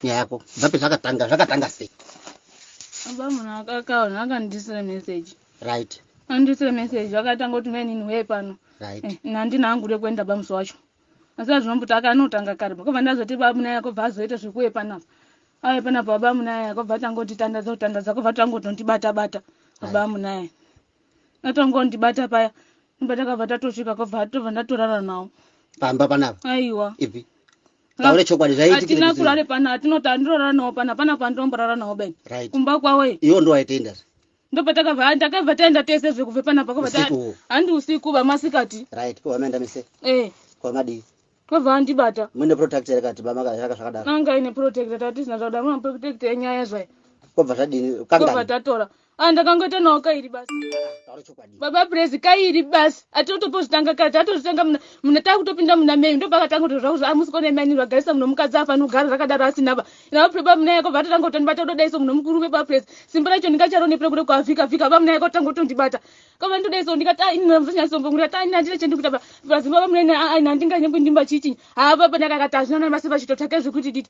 nyaya yako bva pezvakatanga zvakatanga sei apa munhu akakaona akandiisira message right andiisira message akatanga kuti mainini wee pano right eh, nandina angu rekuenda bamusi wacho asi azvinombuti akanotanga kare bakobva ndazoti bamuna yako bva azoita zvekuwe panapa awe panapa wabamuna yako bva tangotitandadza kutandadza kobva tangotondibata bata wabamuna yako atongondibata paya imba takabva tatosvika kobva tobva ndatorara nawo pamba panapa aiwa ipi taure chokwadi zvaiitikaatina kurare pano hatinoti handirorara nawo pano hapana kwandinomborara nawo ben kumba kwawo iwo ndo waitaenda zve ndopatakabva ndakabva taenda tese zve kubve panapa kabva handi usiku vamasikati right pavameenda mise eh kwamadii kwabva andibata muine protect here kati bamakaaka zvakadaro anga ine protect tatisina zvakudaro muna protect yenyaya zvai kwabva zvadini kwabva tatora Ah, ndakangoita nawo kairi basi baba prezi kairi basi atotopozvitanga kare tatozvitanga muna takutopinda muna mei ndobva katanga kuti zvakuti amusi kona imani vagarisa munhu mukadzi afani kugara rakadaro asina ba navo preba muna yako vatotanga kutoni vatododaiso munhu mukurume baba prezi simba racho ndingacharonepre kuda kuavhika vhika ba muna yako tanga kutondibata kava ndodaiso ndikati ah, inini muzonyasombongura ta ini handina chendikuita ba prezi baba muna ina ah, ina ndinganyembo ndimba chiitinyi haa baba ndakakati hazvina namasi vachitotsvake zvekuti diti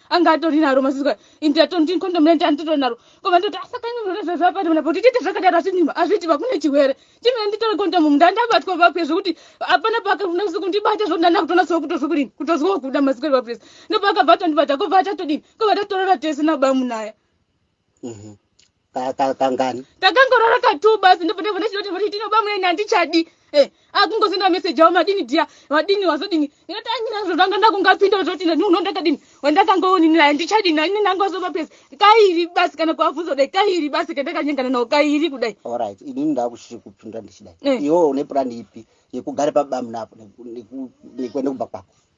anga atori naro mazizwa ini tatonti condom rent anditori naro koma ndoti asaka imi munoreveveapati muna kuti tiite zvakadaro asi nima azviti vakune chihwere chimene nditore condom mu ndandabatwa vapwe zvekuti hapana paakafuna kuzi kundibata zvekuti ndanda kutonatsowa kutozwa kudini kutozwawo kuda mazikori vapwese ndopaakabva atondibata kobva atatodini kobva tatorora tese nabamunaya Mhm. Ka- ka- Kangani? takangorara katuu basi ndobva ndabva ndachitoti kuti tinoba muyeni handichadi Eh, akungosenda meseji avo madini dia vadini wazodini inoti anyina zvotanga ndakungapinda wazoti ndinhuno ndakadini wandakangoonini handichadi nani nangozoba pesi kairi basi kana kuabvunza kudai kairi basi kandakanyengana nawo kairi kudai Alright, inini ndakuchiri kupinda ndichidai. Eh. Iwewe une plan ipi yekugara pabamuna apo neku- neku- nekuenda kumba kwako?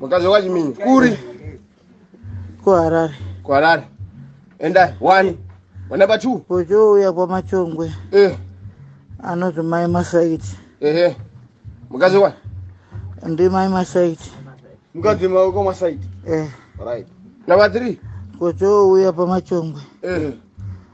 mukadzi wekwachiminya kuri kuharare kuharare endai wani wanamba two kuchouya kwamachongwe eh. anoti mai masaiti ehe mukadzi wani ndi mai masaiti mukadzi maweko masaiti eh. right namba three kuchouya pamachongwe eh.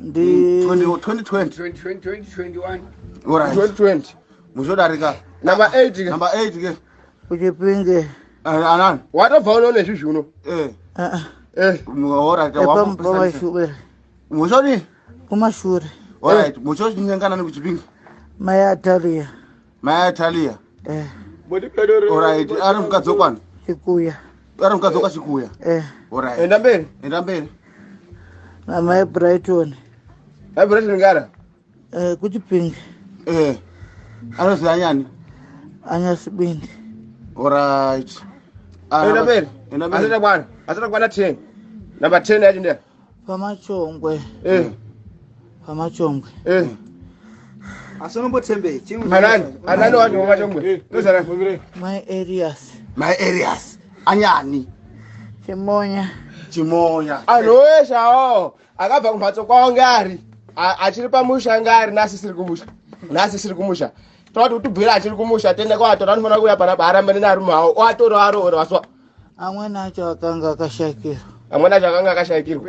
ndi 2020 2020 muchodarika number 8 ke number 8 ke uchipinge eh, anani watobva uno nezvi zvuno eh ah, ah. eh muhora ta wa mushore mushore kumashure alright mushore chinyangana nekuchipinge maya taria mai atalia eh. orit ari mukadzi wekwana chikuya ari mukadzi wekwa chikuya eh. orit enda mberi enda mberi mama ebrighton mai brighton ngara eh, kuchipinge eh. anozi anyani anyasibindi orit enda mberi anoita kwana anoita kwana ten number ten yacho ndeya pamachongwe eh. pamachongwe eh. asi unombotembeyi chianani anani wacho pamachongwe eh. ndozanani my areas my areas anyani chimonya chimonya anhu weshe awawo akabva kumhatso kwawo ngari achiri pamusha ngari nasi siri kumusha nasi siri kumusha toti utubvira achiri kumusha tende kwatora anofanira kuuya panapa arambane nearume awo oatora aroora waswa amwene acho akanga akashakirwa amwene acho akanga akashakirwa